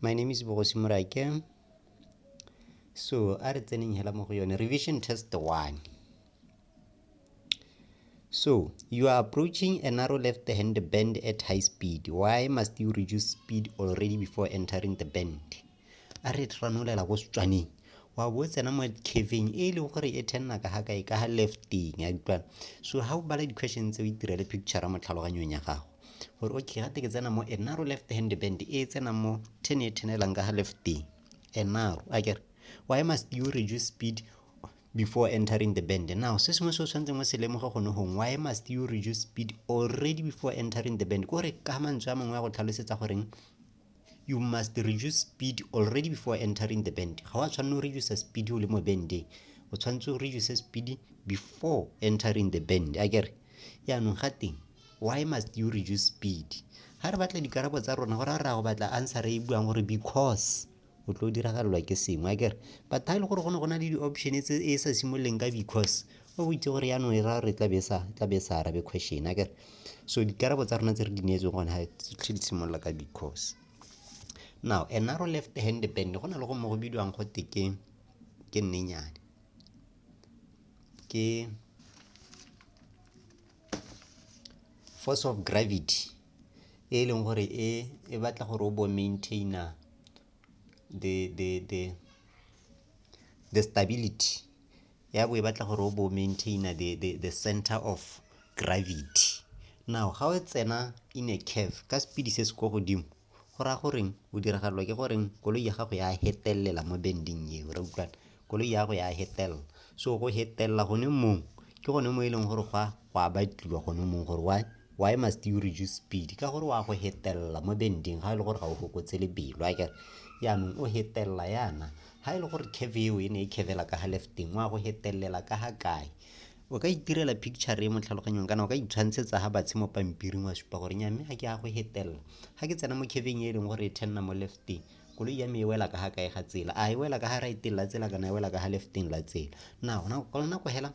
My name is Bogosi Morake. So, a re tseneng hela mo go yone. Revision test one. So, you are approaching a narrow left hand bend at high speed. Why must you reduce speed already before entering the bend? A re tranolela go setswaneng. wa bo tsena mo caveng e leng gore e thenna ka ga kae ka ga lefting ya utlwana so ga o bala di-question tse o itirele picture mo tlhaloganyong ya gago gore okay gate ke tsena mo enaro left hand band e tsenang mo ten e thenelang ka ga left enaro a kere why must you reduce speed before entering the band now se sengwe se o tshwanetseng o se lemoga gone gong why must you reduce speed already before entering the band kore ka mantswe a mangwe ya go tlhalosetsa goreng you must reduce speed already before entering the band ga wa tshwanela o reduce speed o le mo bende o tshwanetse o reduce speed before entering the band a kere yaanong ga teng why must you reduce speed ga re batla dikarabo tsa rona gore a re a go batla answer e buang gore because o tlo diragalelwa ke sengwe a kere but ga e le gore go ne go na le di-option tse e sa simololeng ka because o itse gore yaanong e raya gore e tla be sa tla be sa arabe question a kere so dikarabo tsa rona tse re di neetseng gone ga tlhe di simolola ka because now a narrow left hand band go na le go mo go bidiwang go te ke ke nnenyane ke force of gravity e leng gore e e batla gore o bo maintainer the the the the stability ya bo e batla gore o bo maintainer the, the, the center of gravity now ga o tsena in a curve ka speed se se ko godimo go raya goreng o diragalelwa ke goreng koloi ya gago ya hetelela mo bending eo re utlwana koloi ya gago ya hetelela so go hetelela gone mong ke gone mo e leng gore gwa go a batliwa gone mong gore why why must you reduce speed ka gore wa go hetelela mo bending ga e le gore ga o fokotse lebelo a kere yaanong o hetelela yana Ha e le gore curve eo e ne e curvela ka ha lefting wa go hetelela ka ha kae o ka itirela picture e mo tlhaloganyong kana o ka itshwantshetsa ha batshe mo pampiring wa supa gore nya mme ga ke ya go hetelela ga ke tsena mo curveng e e leng gore e thenna mo lefting koloi ya me e wela ka ga kae ga tsela a e wela ka ga right la tsela kana e wela ka ga lefting la tsela na gona ka nako hela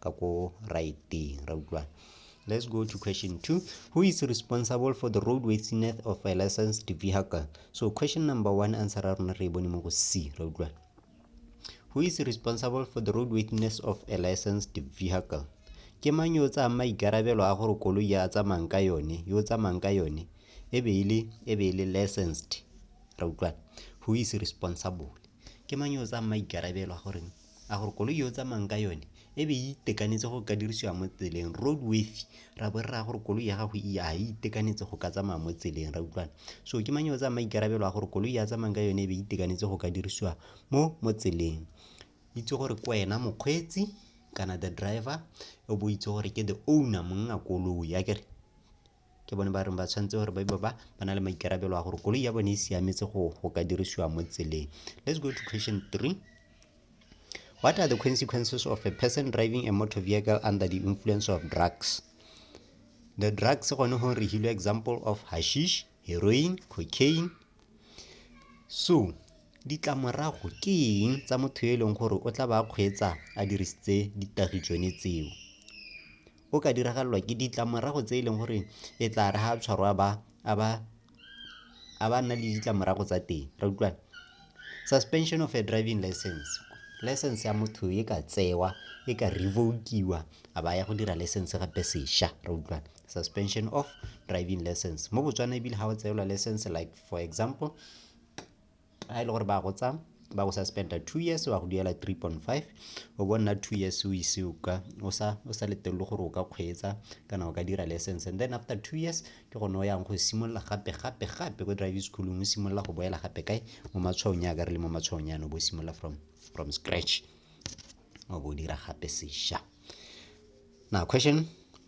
ka ko righteng ra utlwana Let's go to question two. Who is responsible for the roadworthiness of a licensed vehicle? So question number one answer ra rona re bone mo go C ra utlwa. Who is responsible for the roadworthiness of a licensed vehicle? Ke mang yo tsaya maikarabelo a gore koloi ya tsamayang ka yone, yo tsamayang ka yone e be e le e be e le licensed. Ra utlwa. Who is responsible? Ke mang yo tsaya maikarabelo a gore a gore koloi yo o tsamayang ka yone e be e itekanetse go ka dirisiwa mo tseleng road worthy ra bo re raya gore koloi ya gago e a e itekanetse go ka tsamaya mo tseleng ra utlwana so ke mang yo o tsaya maikarabelo a gore koloi ya tsamayang ka yone e be e itekanetse go ka dirisiwa mo mo tseleng itse gore ke wena mokgweetsi kana the driver o bo itse gore ke the owner monna koloi a kere ke bone ba reng ba tshwanetse gore ba ba ba na le maikarabelo a gore koloi ya bone e siametse go go ka dirisiwa mo tseleng let's go to question three what are the consequences of a person driving a motor vehicle under the influence of drugs the drugs gone go re hilo example of hashish heroin cocaine so ditlamorago ke eng tsa motho yo e leng gore o tla ba kgweetsa a dirisitse ditagi tsone tseo o ka diragalelwa ke ditlamorago tse e leng gore e tla re ga a tshwarwa a ba nna le ditlamorago tsa teng re utlwana. Suspension of a driving license, license ya motho e ka tsewa e ka revoke-iwa a ba ya go dira license gape sesha re utlwana. Suspension of driving license mo Botswana ebile ga o tseelwa license like for example. ga e le gore ba go tsa ba go suspenda two years wa go duela three point five o bo nna two years o ise o ka o sa o sa letelele gore o ka kgweetsa kana o ka dira license and then after two years ke gone o yang go simolola gape gape gape ko driving schoolong o simolola go boela gape kae mo matshwaong ya ka re le mo matshwaong yana o bo simolola from from scratch o bo o dira gape sesha now question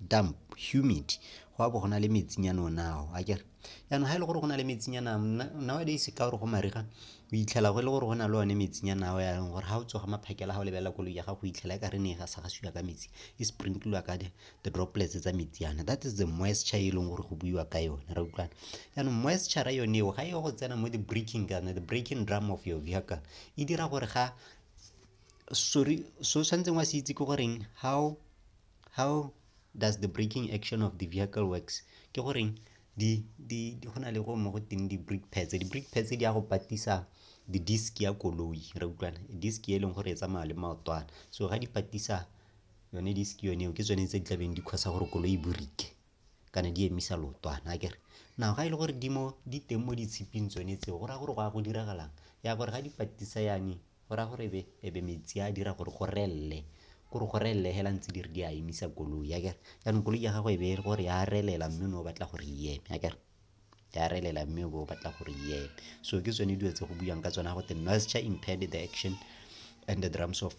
damp humid go a bo go na le metsinyana o nao a kere jaanong ga e le gore go na le metsinyana nowadays ka gore go mariga o itlhela go e le gore go na le one metsinyana ao yaanong gore ga o tsoga maphakela ga o lebelela koloi ya gago o itlhela e ka re ne e gasagasiwa ka metsi e sprinkliwa ka the droplets tsa metsi yana that is the moisture e leng gore go buiwa ka yone ra utlwana jaanong moisture yone eo ga e go tsena mo the breaking kana the breaking drum of your vehicle e dira gore ga sorry so tshwanetseng wa se itse ke goreng how how does the breaking action of the vehicle works ke goreng di di di go na le go mo go teng di break pads di break pads di ya go patisa di disk ya koloi re utlwana disk e leng gore e tsamaya le maotwana so ga di patisa yone disk yone eo ke tsone tse di tlabeng di kgosa gore koloi e borike kana di emisa lootwana akere na ga e le gore di mo di teng mo ditshiping tsone tseo go raya gore go ya go diragalang ya gore ga di patisa yane go raya gore ebe ebe metsi a dira gore go relele kore go relele hela ntse di re di a emisa koloi ya kere jaanong koloi ya gago e be e le gore ya relela mme o ne o batla gore e eme ya kere ya relela mme o be o batla gore e eme so ke tsone dilo tse go buang ka tsone go te noisture impaired the action and the drums of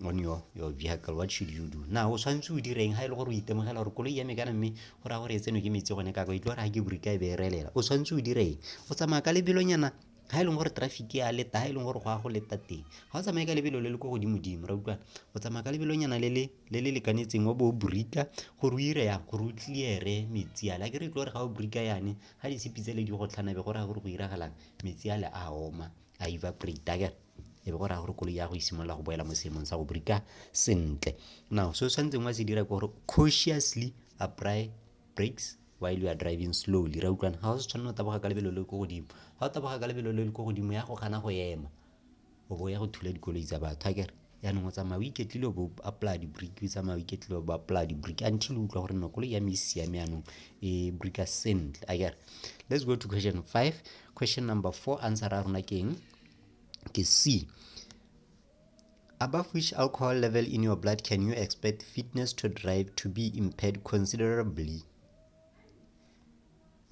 on your, your vehicle what should you do na o tshwanetse o direng ga e le gore o itemogela gore koloi ya me kana mme go raya gore e tseno ke metsi gone kako e tlo gore ga ke burika e be e relela o tshwanetse o direng o tsamaya ka lebelonyana ga e leng gore traffic ya leta ga e leng gore go ya go leta teng ga o tsamaye ka lebelo le le ko godimo dimo ra utlwana o tsamaya ka lebelo nyana le le le le lekanetseng wa bo o break-a gore o ire yang gore o clear-e metsi ale a ke re tle gore ga o break-a yane ga di sepi tse le di go tlhana be go raya gore go iragalang metsi ale a oma a evaporate-a kere e be go raya gore koloi ya go simolola go boela mo seemong sa go break-a sentle now se o tshwanetseng wa se dira ke gore cautiously apply brakes while you are driving slowly ra utlwana ga o se tshwanela o taboga ka lebelo le ko godimo ga o taboga ka lebelo le le ko godimo ya go gana go ema o bo ya go thula dikoloi tsa batho a kere yaanong o tsamaya o iketlile o bo apply di-brick o tsamaya o iketlile o bo apply di-brick until o utlwa gore no koloi ya me e siame yaanong e bricka sentle a kere let's go to question five question number four answer a rona ke eng ke c Above which alcohol level in your blood can you expect fitness to drive to be impaired considerably?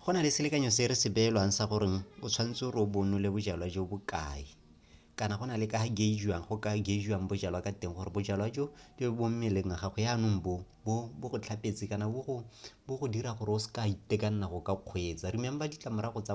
Go na le selekanyo se re se beelwang sa gore o tshwanetse gore o bonole bojalwa jo bo kae kana go na le ka ga gaugiwang go ka gaugiwang bojalwa ka teng gore bojalwa jo jo bo mmeleng ga gago yaanong bo bo bo go tlhapetse kana bo go bo go dira gore o se ka itekanela go ka kgweetsa remember ditlamorago tsa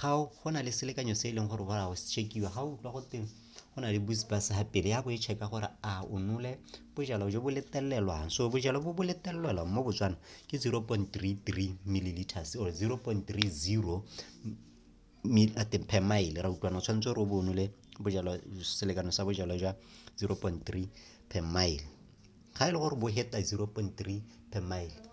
ga go na le selekanyo se e leng gore wa se check-iwa ga o utlwa go teng go na le bus bus ga pele ya bo e check-a gore a o nole bojalo jo bo letelelwang so bojalo bo bo letelelwang mo botswana ke 0.33 milliliters or 0.30 per mile ra utlwana o tshwanetse gore o bo nole bojalo selekano sa bojalo jwa 0.3 per mile ga e le gore bo heta 0.3 per mile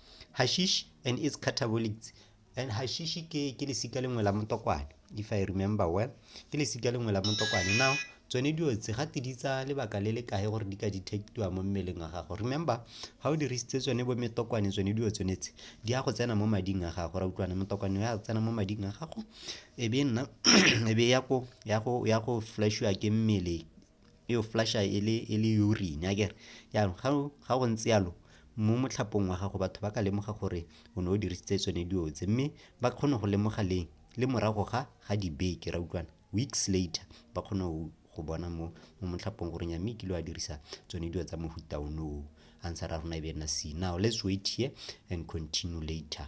hashish and its catabolics and hashish ke ke lesika lengwe la motokwane if i remember well ke lesika lengwe la motokwane now tsone dilo tse ga di tsa lebaka le le kae gore di ka detectiwa mo mmeleng wa gago remember ga o dirisitse tsone bo metokwane tsone dilo tsone tse di ya go tsena mo mading a gago ra utlwana motokwane ya tsena mo mading a gago e be nna e be ya go ya go ya go flashiwa ke mmele e o flasha e le e le urine akere jaanong ga o- ga go ntse yalo mo motlhapong wa gago batho ba ka lemoga gore o ne o dirisitse tsone dilo tse mme ba kgone go lemoga leng le morago ga ga dibeke ra utlwana weeks later ba kgone go go bona mo mo motlhapong gore nya mme kile wa dirisa tsone dilo tsa mohuta ono o answer a rona e be e nna c now let's wait here and continue later